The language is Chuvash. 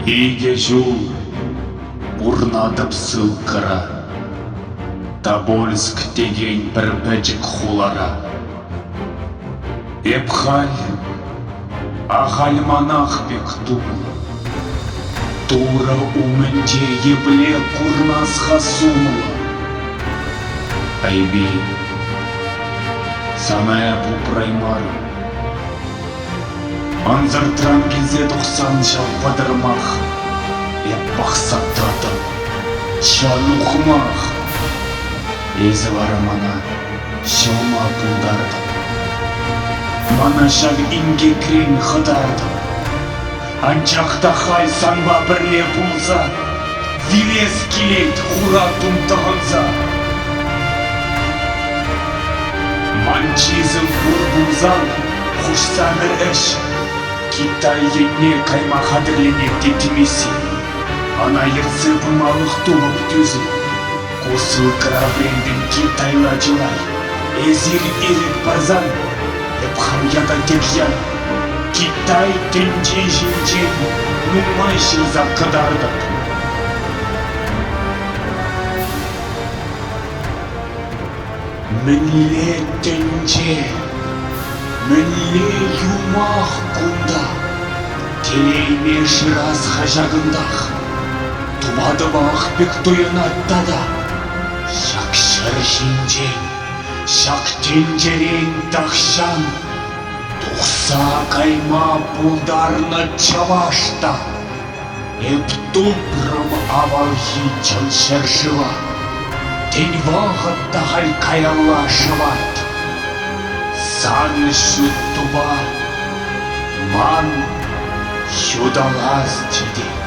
Икӗ ҫул пурнатӑп ссылкӑра Тобольск текен пӗр пӗчӗк хулара Эп халь Ахаль манах пек тумлӑ. Турӑ умӗнче епле курмас-ха сумлӑ? Айпи, сана эп упраймарӑм. Ансӑртран килсе тухсан ҫав пӑтӑрмах Эп пахса татӑп, ҫан ухмах. Эсӗ вара мана Ҫӑлма пултартӑм. Мана ҫак инкекрен хӑтартӑм. Анчах та халь санпа пӗрле пулса вилес килет хуратум тӑхӑнса. Ман чысӗ пур пулсан хушсанӑ ӗҫ Китай йӗтне кайма хатӗрленет теттӗм эсир. Ӑна ертсе пымалӑх тупӑп тӳсӗм. Ку ссылкӑра вӗрен пирки тайла чылай. Эсир ирӗк парсан, эп хам ята тепҫем Китай тӗнчи ҫинчен нумай ҫырса кӑтартӑп. Мӗнле тӗнче, мӗнле юмах кунта, Телейме шырас хаҫатӑнтах, Тупатӑпах пек туйӑнать тата. Ҫак ҫӗр ҫинчен, ҫак тӗнчерен тахҫан Тухса кайма пултарнӑ чӑваш та Эптупрӑм авалхи чӑн ҫӗршыва, Тен, вӑхӑт та халь каялла шӑвать. Сан ҫут тупа ман ҫуталас тетет.